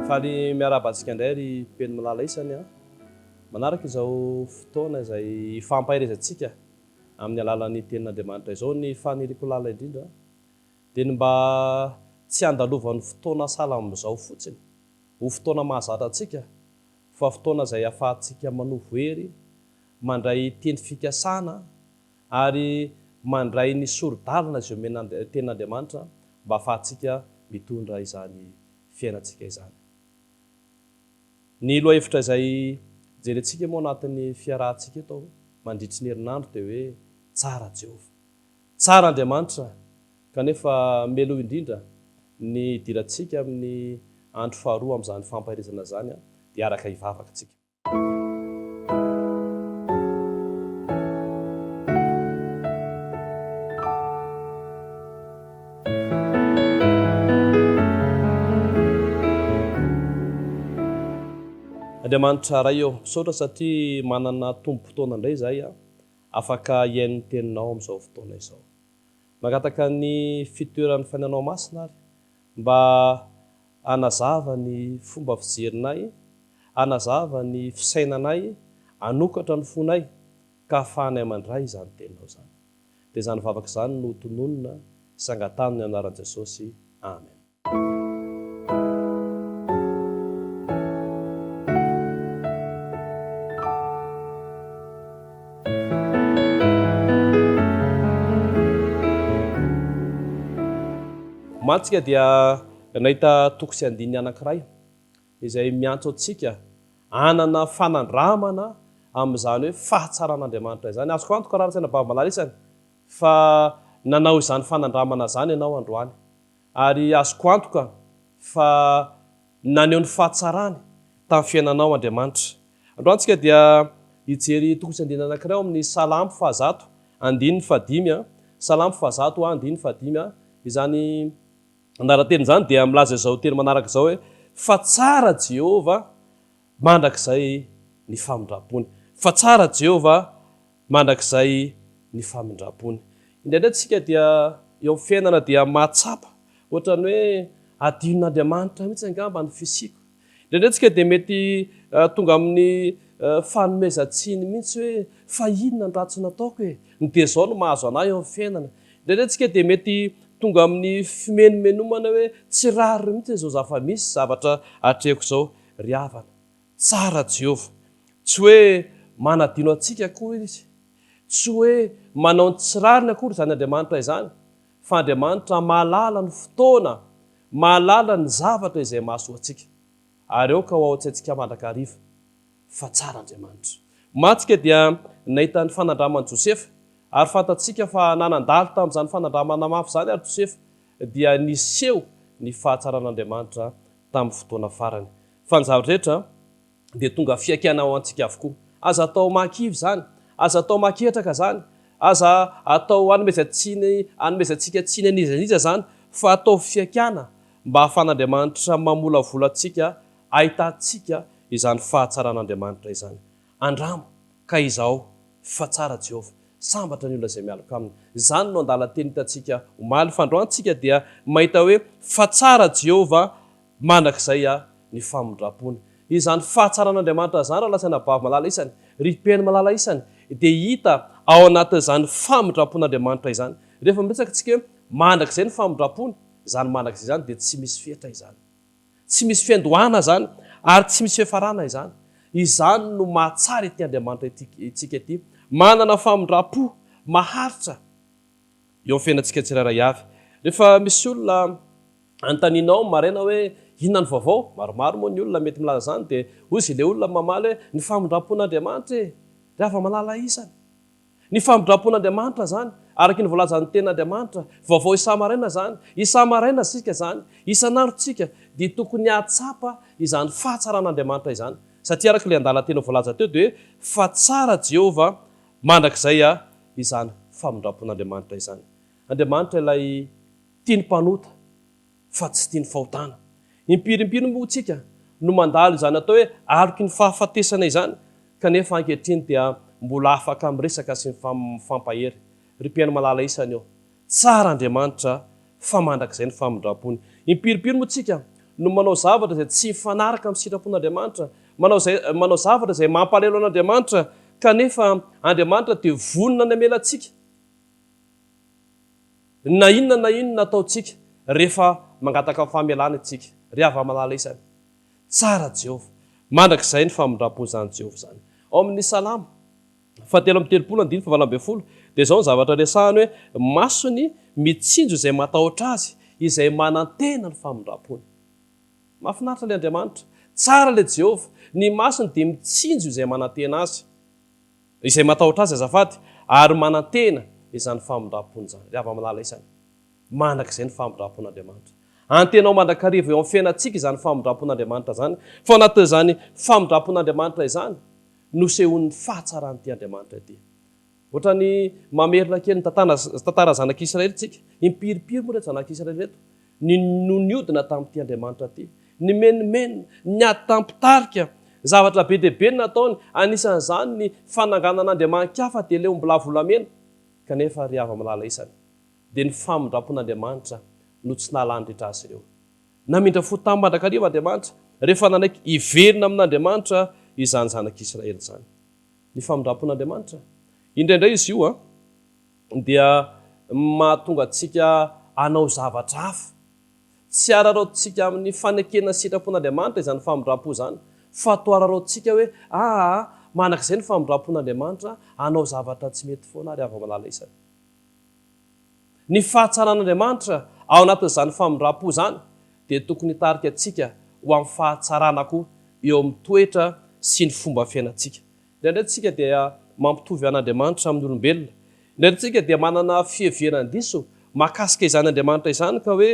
Faly miarahaba antsika indray ry mpiteny malala isany an! Manaraka izao fotoana izay ifampaherezantsika amin'ny alalan'ny Tenin'Andriamanitra izao ny faniriako lalina indrindra Dia ny mba tsy handalovan'ny fotoana sahala amin'izao fotsiny ho fotoana mahazatra antsika fa fotoana izay ahafahantsika manovo hery, mandray teny fikasana ary mandray ny sori-dalana izay omena tenin'Andriamanitra mba ahafahantsika mitondra izany fiainantsika izany. Ny lohahevitra izay jerentsika moa anatin'ny fiarahantsika eto mandritry ny herinandro dia hoe, Tsara Jehovah. Tsara Andriamanitra, kanefa melohy indrindra ny hidirantsika amin'ny andro faharoa amin'izany fampaherezana izany, dia araka hivavaka isika. Andriamanitra Ray ô, misaotra satria manana tombom-potoana indray izahay, Afaka hihaino ny Teninao amin'izao fotoana izao. Mangataka ny fitoeran'ny Fanahinao Masina ary mba hanazava ny fomba fijerinay, hanazava ny fisainanay, hanokatra ny fonay ka hahafahanay mandray izany Teninao izany. Dia izany vavaka izany no tononina sy angataho amin'ny anaran'i Jesosy. Amen. Mantsika dia nahita toko sy andininy anankiray izay miantso antsika hanana fanandramana amin'izany hoe fahatsaran'Andriamanitra izany. Azoko antoka raha raha tena babo malala isany fa nanao izany fanandramana izany ianao androany. Ary azoko antoka fa naneho ny fahatsarany tamin'ny fiainanao Andriamanitra. Androany tsika dia hijery toko tsy andininy anankiray ao amin'ny Salamo fahazato andininy fahadimy, Salamo fahazato andininy fahadimy. Izany anaran-teny izany dia milaza izao teny manaraka izao hoe, Fa tsara Jehovah mandrakizay ny famindram-pony. Fa tsara Jehovah mandrakizay ny famindrampony. Indraindray isika dia eo amin'ny fiainana dia mahatsapa ohatran'ny hoe adinon'Andriamanitra mihitsy angamba ny fisiako. Indraindray isika dia mety tonga amin'ny fanomezan-tsiny mihitsy hoe fa inona ny ratsy nataoko e? ny dia izao no mahazo anah eo amin'ny fiainana. Indraindray isika dia mety tonga amin'ny fimenomenomana hoe tsy rariny mihitsy izao zava-misy zavatra atrehiko izao ry havana. Tsara Jehovah. Tsy hoe manadino antsika akory izy. Tsy hoe manao ny tsy rariny akory izany Andriamanitra izany, fa Andriamanitra mahalala ny fotoana, mahalala ny zavatra izay mahasoa antsika. Ary aoka ho ao an-tsaintsika mandrakariva fa tsara Andriamanitra. Mantsika dia nahita ny fanandraman'i Josefa, ary fantatsika fa nanan-dalo tamin'izany fanandramana mafy izany àry Josefa, dia niseho ny fahatsaran'Andriamanitra tamin'ny fotoana farany. Fa ny zava-drehetra dia tonga fiaikana ho antsika avokoa. Aza atao mahakivy izany. Aza atao mahaketraka izany. Aza atao hanomezan-tsiny, hanomezantsika tsiny an'iza an'iza izany, fa ataovy fiaikana mba hahafahan'Andriamanitra mamolavola antsika hahitantsika izany fahatsaran'Andriamanitra izany. Andramo ka izahao fa tsara Jehovah. Sambatra ny olona izay mialoka aminy. Izany no andalan-teny hitantsika omaly. Fa androany isika dia mahita hoe fa tsara Jehovah Mandrakizay a ny famindrampony. Izany fahatsaran'Andriamanitra izany raha lazaina Bavy malala isany, Ripeny malala isany, dia hita ao anatin'izany famindrampon'Andriamanitra izany. Rehefa miresaka isika hoe mandrakizay ny famindrampony, izany mandrakizay izany dia tsy misy fetra izany. Tsy misy fiandohana izany ary tsy misy fiafarana izany. Izany no mahatsara ity Andriamanitra ity, itsika ity. Manana famindrampo maharitra. eo amin'ny fiainantsika tsirairay avy. Rehefa misy olona anontanianao maraina hoe inona ny vaovao, maromaro moa ny olona mety milaza izany, dia hoy ilay olona mamaly hoe ny famindram-pon'Andriamanitra e! Ry hava-malala isany! Ny famindram-pon'Andriamanitra izany, araka ny voalazan'ny Tenin'Andriamanitra, vaovao isa-maraina izany. Isa-maraina isika izany, isan'andro isika dia tokony hahatsapa izany fahatsaran'Andriamanitra izany, satria araka ilay andalan-teny voalaza teo dia hoe, Fa tsara Jehovah Mandrakizay aho izany famindrampon'Andriamanitra izany. Andriamanitra ilay tia ny mpanota fa tsy tia ny fahotana. Impiry impiry moa isika no mandalo izany atao hoe aloky ny fahafatesana izany kanefa ankehitriny dia mbola afaka miresaka sy mifampahery. Ry mpihaino malala isany ô, Tsara Andriamanitra fa mandrakizay ny famindrampony. Impiripiry moa tsika no manao zavatra izay tsy mifanaraka amin'ny sitrapon'Andriamanitra, manao izay manao zavatra izay mampalahelo an'Andriamanitra kanefa Andriamanitra dia vonona ny hamela antsika na inona na inona ataontsika rehefa mangataka famelana isika. Ry havana malala isany, tsara Jehovah, mandrakizay ny famindrampon'izany Jehovah izany. Ao amin'ny Salamo. Fahatelo amby telopolo, andininy fahavalo ambin'ny folo, dia izao ny zavatra resahany hoe, Masony mitsinjo izay matahotra Azy, izay manantena ny famindrampony. Mahafinaritra ilay Andriamanitra! Tsara ilay Jehovah! Ny masony dia mitsinjo izay manantena Azy, izay matahotra Azy, azafady, ary manantena izany famindrampony izany. Ry hava-malala isany, mandrakizay ny famindrampon'Andriamanitra. Antenaho mandrakariva eo amin'ny fiainantsika izany famindrampon'Andriamanitra izany, fa ao anatin'izany famindrampon'Andriamanitra izany, nosehoan'ny fahatsaran'ity Andriamanitra ity. Ohatran'ny mamerina kely ny tantana tantara zanak'i Israely tsika. Impiripiry moa ireto zanak'i Israely ireto ny no niodina tamin'ity Andriamanitra ity. Nimenomenona, niady tamim-pitarika, zavatra be dia be ny nataony, anisan'izany ny fananganana andriamanin-kafa dia ilay ombilahy volamena. Kanefa ry hava malala isany dia ny famindram-pon'Andriamanitra no tsy nahalany ritra azy ireo. Namindra fo tamin'ny mandrakariva Andriamanitra rehefa nanaiky hiverina amin'Andriamanitra izany zanak'Israely izany. Ny famindram-pon'Andriamanitra, indraindray izy io, dia mahatonga antsika hanao zavatra hafa. Tsy hararaotintsika amin'ny fanekena ny sitrapon'Andriamanitra izany famindram-po izany, fa toa hararaotintsika hoe, Aa, manak'izay ny famindram-pon'Andriamanitra, hanao zavatra tsy mety foana ary aho vao manala isany. Ny fahatsaran'Andriamanitra ao anatin'izany famindram-po izany dia tokony hitarika antsika ho amin'ny fahatsarana koa eo amin'ny toetra sy ny fomba fiainantsika. Indraindray isika dia mampitovy an'Andriamanitra amin'ny olombelona. Indraindray isika dia manana fiheveran-diso mahakasika izany Andriamanitra izany ka hoe,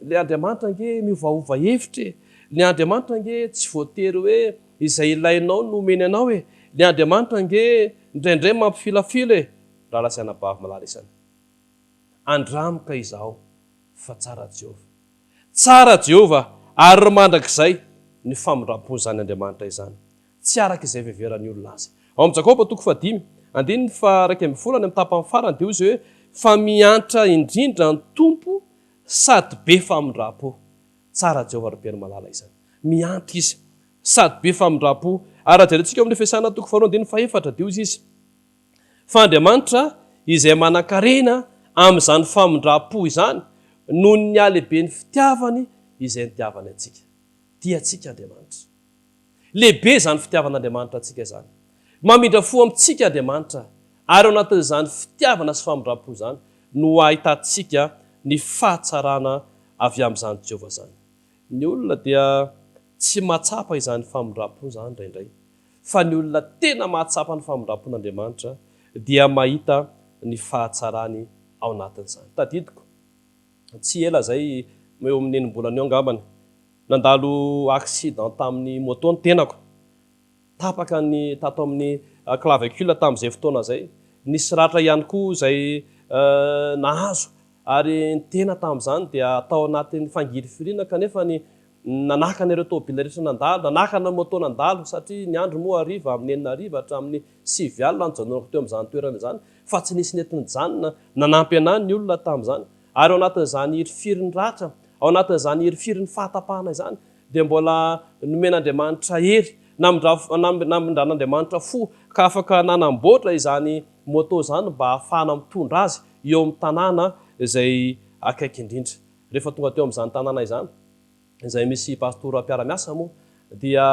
Ilay Andriamanitra ange miovaova hevitra e! Ilay Andriamanitra ange tsy voatery hoe izay ilainao no omeny anao e! Ilay Andriamanitra ange indraindray mampifilafila e! Lala sy anabavy malala isany. Andramoka izaho fa tsara Jehovah. Tsara Jehovah ary mandrakizay ny famindram-pon'izany Andriamanitra izany. Tsy araka izay fiheveran'ny olona azy. Ao amin'ny Jakoba toko fahadimy, andininy faharaika ambin'ny folo any amin'ny tapany farany dia hoy izy hoe, Fa miantra indrindra ny Tompo sady be famindram-po. Tsara Jehovah ary be ny malala izany. Miantra izy sady be famindram-po. Ary raha jerentsika ao amin'ny Efesana toko faharoa andininy fahefatra dia hoy izy, fa Andriamanitra izay manan-karena amin'izany famindram-po izany noho ny halehiben'ny fitiavany izay nitiavany antsika. Tia antsika Andriamanitra. Lehibe izany fitiavan'Andriamanitra antsika izany. Mamindra fo amintsika Andriamanitra, ary ao anatin'izany fitiavana sy famindram-po izany no ahitantsika ny fahatsarana avy amin'izany Jehovah izany. Ny olona dia tsy mahatsapa izany famindram-po izany indraindray, fa ny olona tena mahatsapa ny famindram-pon'Andriamanitra dia mahita ny fahatsarany ao anatin'izany. Tadidiko, tsy ela izay, eo amin'ny enim-bolana eo angambany, nandalo accident tamin'ny moto ny tenako. Tapaka ny tato amin'ny clavicule tamin'izay fotoana izay. Nisy ratra ihany koa izay nahazo, ary ny tena tamin'izany dia tao anatin'ny fangirifiriana kanefa ny Nanakana ireo tômôbila rehetra nandalo, nanakana ny môtô nandalo satria ny andro moa hariva amin'ny enina hariva hatramin'ny sivy alina no nijanonako teo amin'izany toerana izany fa tsy nisy nety nijanona nanampy anà ny olona tamin'izany ary ao anatin'izany hirifirin'ny ratra, ao anatin'izany hirifirin'ny fahatapahana izany dia mbola nomen'Andriamanitra hery, namindra, namindran'Andriamanitra fo ka afaka nanamboatra izany môtô izany mba hahafahana mitondra azy eo amin'ny tanàna izay akaiky indrindra. Rehefa tonga teo amin'izany tanàna izany, izay misy pastora mpiara-miasa moa, dia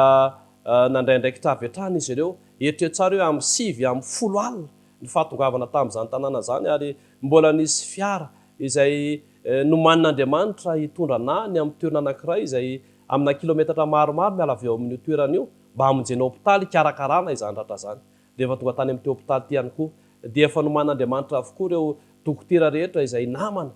nandray andraikitra avy hatrany izy ireo. Eritrereto tsara hoe amin'ny sivy amby folo alina ny fahatongavana tamin'izany tanàna izany, ary mbola nisy fiara izay nomanin'Andriamanitra hitondra anà any amin'ny toerana anankiray izay amina kilometatra maromaro miala avy eo amin'io toerana io, mba hamonjena hopitaly hikarakarana izany ratra izany. Rehefa tonga tany amin'ity hopitaly ity ihany koa, dia efa nomanin'Andriamanitra avokoa ireo dokotera rehetra izay namana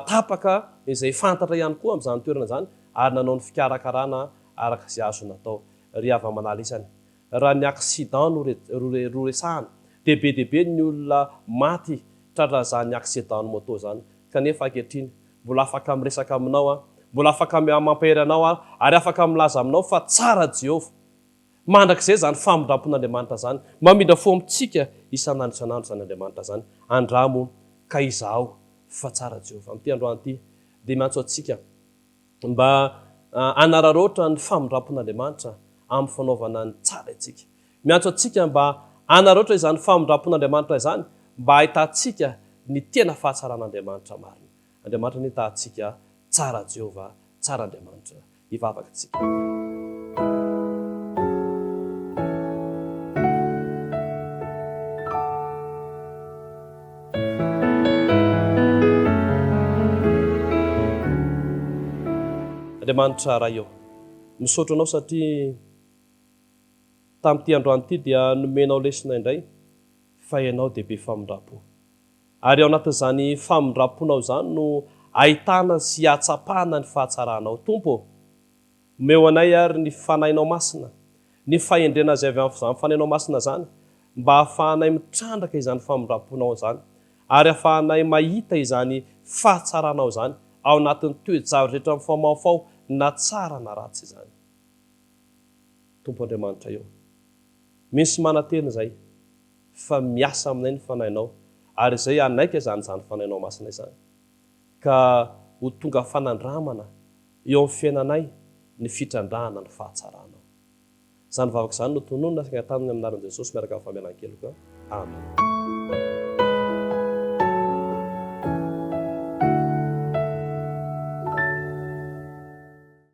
Tapaka izay fantatra ihany koa amin'izany toerana izany ary nanao ny fikarakarana araka izay azony atao. Ry hava-manala isany. Raha ny accident no ro resahana dia be dia be ny olona maty tratran'izany accident moto izany. Kanefa ankehitriny mbola afaka miresaka aminao aho, mbola afaka mampahery anao aho ary afaka milaza aminao fa tsara Jehovah. Mandrakizay izany famindram-pon'Andriamanitra izany. Mamindra fo amintsika isan'andro isan'andro izany Andriamanitra izany. Andramo ka izahao fa tsara Jehovah. Amin'ity androany ity dia miantso antsika mba hanararaotra ny famindram-pon'Andriamanitra amin'ny fanaovana ny tsara isika. Miantso antsika mba hanararaotra izany famindram-pon'Andriamanitra izany mba hahitantsika ny tena fahatsaran'Andriamanitra marina. Andriamanitra anie ta hantsika tsara Jehovah, tsara Andriamanitra. hivavaka Andriamanitra Ray ô, misaotra Anao satria tamin'ity androany ity dia nomenao lesona indray fa Ianao dia be famindram-po. Ary ao anatin'izany famindram-ponao izany no ahitana sy ihatsapana ny fahatsaranao. Tompo ô! Omeo anay ary ny Fanahinao Masina, ny fahendrena izay avy amin'izany Fanahinao Masina izany, mba hahafahanay mitrandraka izany famindram-ponao izany, ary hahafahanay mahita izany fahatsaranao izany ao anatin'ny toe-javatra rehetra mifamahofaho na tsara na ratsy izany. Tompo Andriamanitra eo. Mino sy manantena izay. fa miasa aminay ny Fanahinao, ary izay hanaiky aza an'izany Fanahinao Masina izany, ka ho tonga fanandramana eo amin'ny fiainanay ny fitrandrahana ny fahatsaranao. Izany vavaka izany no tononina saingy atao amin'ny anaran'i Jesosy miaraka amin'ny famelan-keloka. Amena.